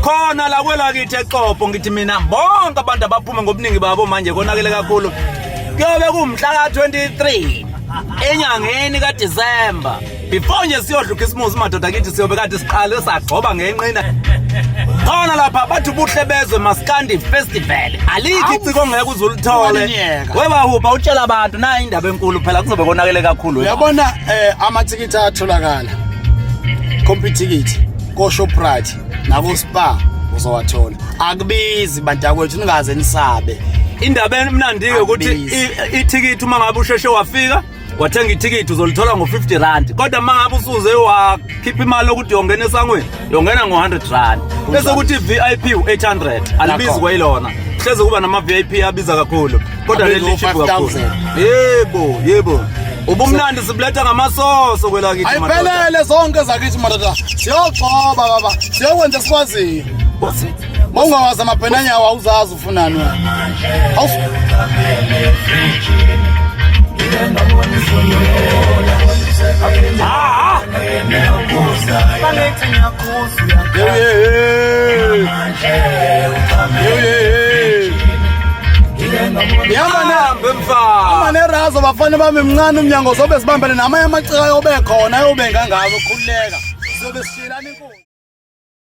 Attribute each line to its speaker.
Speaker 1: khona la kwelakithi exopo ngithi mina bonke abantu abaphume ngobuningi babo manje konakele kakhulu kuyobe kumhla ka-23 enyangeni kadisemba before nje siyodla ukhisimusi madoda kithi siyobe kade siqale sagcoba ngenqina khona lapha bathi ubuhle bezwe maskandi festival alikho iciko ngeke uze ulithole webahubha utshela abantu nayo indaba enkulu phela kuzobe konakele kakhulu uyabona um
Speaker 2: amathikithi atholakala compitikithi koShoprite nakoSpar uzowathola akubizi bantakwethu ningaze nisabe indaba
Speaker 1: emnandi-ke ukuthi ithikithi uma ngabe usheshe wafika wathenga ithikithi uzolithola ngo-50 rand kodwa uma ngabe usuze wakhipha imali yokuthi yongena esangweni yongena ngo-100 rand bese ukuthi i-v i p u-800 alibizi kwayilona hleze kuba nama-v i p abiza kakhulu kodwa leli cheap kakhulu yebo yebo ubumnandi sibuletha ngamasoso kwelakithi ayiphelele zonke
Speaker 2: zakithi madoda siyogcoba baba siyokwenza sikwaziyo mawungawazi amabhenanyawo awuzazi ufunani wena Hey, hey, hey. nerazo bafana bami mncane umnyango zobe sibambele namanye amacika yobe khona yobe ngangazo khululeka sizobe sishilana inkulu